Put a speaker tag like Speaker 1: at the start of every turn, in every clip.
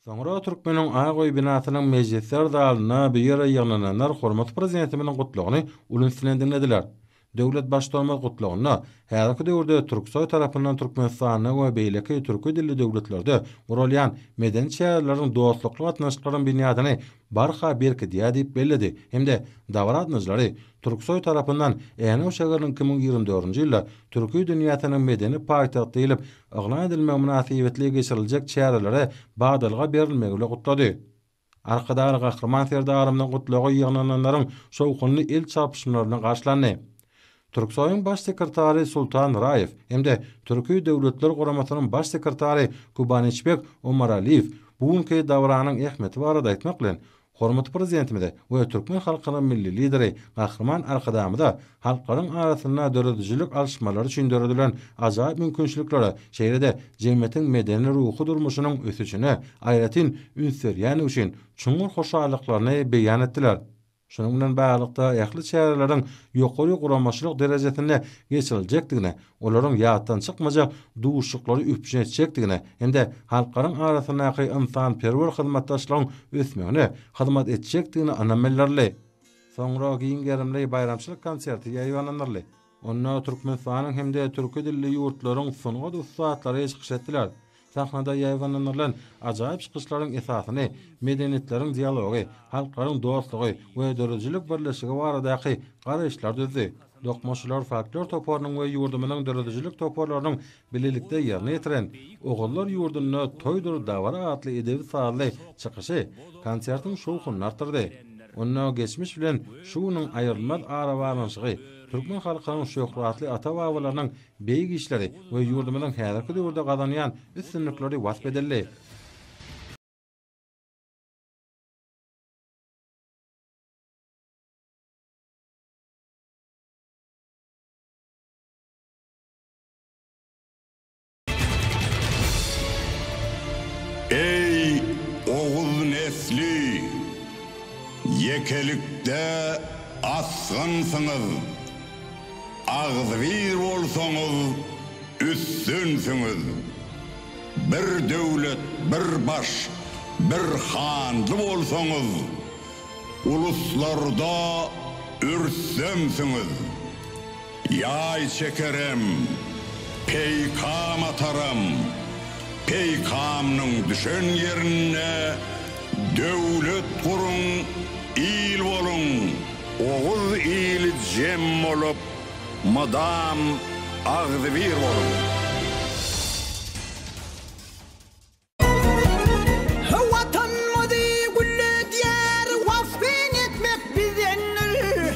Speaker 1: Soňra Türkmeniň Ak öý binasynyň mejlisler zalynda bu ýere ýygnananlar hormatly Prezidentimiziň Gutlagyny uly üns bilen diňlediler. Döwlet Baştutanymyz Gutlagynda häzirki döwürde Türksoý tarapyndan Türkmenistanda we beýleki türki dilli döwletlerde guralýan medeni çäreleriň dostlukly gatnaşyklaryň binýadyny barha berkidýär diýip belledi hem-de dabara gatnaýjylary Türksoý tarapyndan Änew şägeriniň iki müň ýigrimi dördünji ýylda Türki dünýäsiniň medeni paýtagty diýlip yglan edilmegi mynasybetli geçiriljek çärelere badalga berilmegi bile gutlady. Arkadag Gahryman Serdarymyzyň gutlagy ýygnananlaryň şowhunly el çarpyşmalar bilen garşylandy. Türksoýuň Baş sekretary Sultan Raýew hem-de Türki Döwletler Guramasynyň Baş sekretary Kubanyçbek Omaraliýew bu günki dabaranyň ähmiýeti barada aýtmak bilen, Hormatly Prezidentimize we türkmen halkynyň Milli Lideri Gahryman Arkadagymyza halklaryň arasynda döredijilik alyşmalary üçin döredilen ajaýyp mümkinçiliklere, şeýle-de jemgyýetiň medeni-ruhy durmuşynyň ösüşine aýratyn üns berýändigi üçin çuňňur hoşallyklaryny beýan etdiler. Şunuň bilen baglylykda, ähli çäreleriň ýokary guramaçylyk derejesinde geçiriljekdigine, olaryň ýatdan çykmajak duşuşyklary üpjün etjekdigine hem-de halklaryň arasyndaky ynsanperwer hyzmatdaşlygyň ösmegine hyzmat etjekdigine ynam bildirildi. Soňra giň gerimli baýramçylyk konserti ýaýbaňlandyryldy. Onda Türkmenistanyň hem-de türki dilli ýurtlaryň sungat ussatlary çykyş etdiler. Sahnada ýaýbaňlandyrylan ajaýyp çykyşlaryň esasyny medeniýetleriň dialogy, halklaryň dostlugy we döredijilik birleşigi baradaky garaýyşlar düzdi. Dokmaçylar folklor toparynyň we ýurdumyzyň döredijilik toparlarynyň bilelikde ýerine ýetiren Ogullar ýurdunda toýdur dabara atly edebi-sazly çykyşy konsertiň şowhunyny artdyrdy. Onda geçmiş bilen şu günüň aýrylmaz arabaglanyşygy, türkmen halkynyň şöhratly ata-babalarynyň beýik işleri we ýurdumyzyň häzirki döwürde gazanýan üstünlikleri wasp edildi.
Speaker 2: Eý, oguz nesli! Ýekelikde asgynsyňyz. Agzybir bolsaňyz, üstünsiňiz. Bir döwlet, bir baş, bir hanly bolsaňyz, uluslarda ürsemsiňiz. Ýaý çekerem, peýkam ataram, peýkamnyň düşen ýerinde döwlet guruň, il boluň! Oguz ili jem bolup, mydam agzybir boluň! He Watanymyzy gülledýär,
Speaker 3: wasp etmek bizdendir.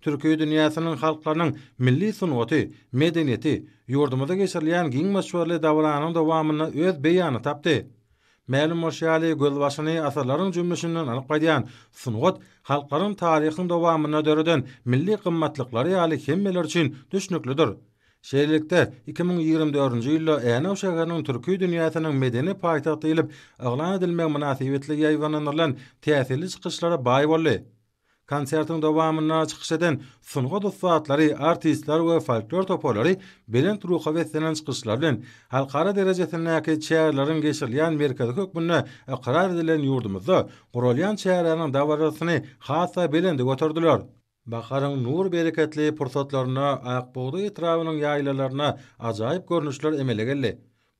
Speaker 1: Türki dünýäsiniň halklarynyň milli sungaty, medeniýeti ýurdumyzda geçirilýän giň möçberli dabaranyň dowamynda öz beýanyny tapdy. Mälim bolşy ýaly, gözbaşyny asyrlaryň jümmüşinden alyp gaýdýan sungat halklaryň taryhyň dowamynda döreden milli gymmatlyklary ýaly hemmeler üçin düşnüklidir. Şeýlelikde, iki müň ýigrimi dördünji ýylda Änew şäheriniň Türki dünýäsiniň medeni paýtagty diýlip yglan edilmegi mynasybetli ýaýbaňlandyrylan täsirli çykyşlara baý boldy. Konsertiň dowamynda çykyş eden sungat ussatlary, artistler we folklor toparlary belent ruha beslenen çykyşlar bilen, halkara derejesindäki çäreleriň geçirilýän merkezi hökmünde ykrar edilen ýurdumyzda guralýan çäräniň dabarasyny has-da belende göterdiler. Baharyň nur-bereketli pursatlarynda Akbugdaý etrabynyň ýaýlalarynda ajaýyp görnüşler emele geldi.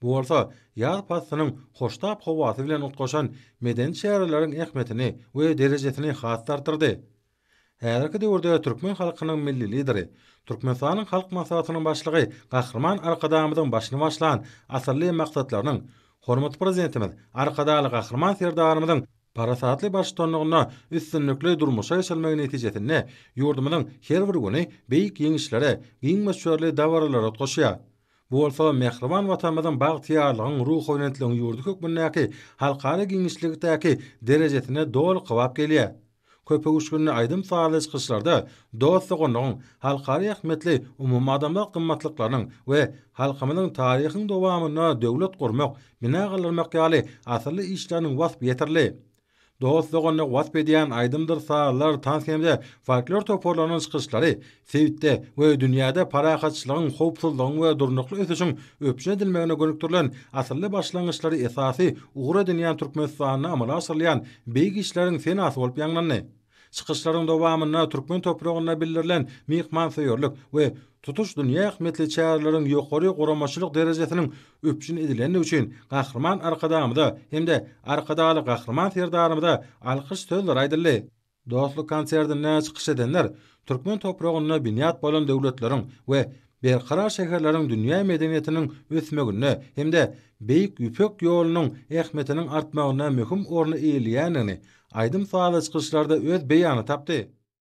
Speaker 1: Bu bolsa ýaz paslynyň hoştap howasy bilen utgaşan medeni çäreleriň ähmiýetini we derejesini has-da artdyrdy. Häzirki döwürde türkmen halkynyň Milli Lideri, Türkmenistanyň Halk Maslahatynyň Başlygy Gahryman Arkadagymyzyň başyny başlan asylly maksatlarynyň, hormatly Prezidentimiz Arkadagly Gahryman Serdarymyzyň parasatly baştutanlygynda üstünlikli durmuşa geçirilmegi netijesinde ýurdumyzyň her bir güni beýik ýeňişlere, giň möçberli dabaralara utgaşýar. Bu bolsa mähriban Watanymyzyň bagtyýarlygyň, ruhubelentligiň ýurdy hökmündäki halkara giňişlikdäki derejesine doly kybap gelýär. Köpöwüşginli aýdym-sazly çykyşlarda dost-doganlygyň, halkara ähmiýetli umumadamzat gymmatlyklarynyň we halkymyzyň taryhyň dowamynda döwlet gurmak, bina galdyrmak ýaly asylly işleriniň waspy ýetirildi. dost-doganlygy wasp edýän aýdymdyr sazlar, tans hem-de folklor toparlarynyň çykyşlary sebitde we dünýäde parahatçylygyň, howpsuzlygyň we durnukly ösüşiň üpjün edilmegine gönükdirilen asylly başlangyçlary esasy ugur edinýän Türkmenistanda amala aşyrylýan beýik işleriň senasy bolup ýaňlandy. Çykyşlaryň dowamynda türkmen topragynda bildirilen myhmansöýerlik we tutuş dünýä ähmiýetli çäreleriň ýokary guramaçylyk derejesiniň üpjün edilendigi üçin Gahryman Arkadagymyza hem-de Arkadagly Gahryman Serdarymyza alkyş sözleri aýdyldy. Dostluk konsertinde çykyş edenler türkmen topragynda binýat bolan döwletleriň we Berkarar şäherleriň dünýä medeniýetiniň ösmeginde hem-de Beýik Ýüpek ýolunyň ähmiýetiniň artmagynda möhüm orny eýeleýändigini aýdym-sazly çykyşlarda öz beýanyny tapdy.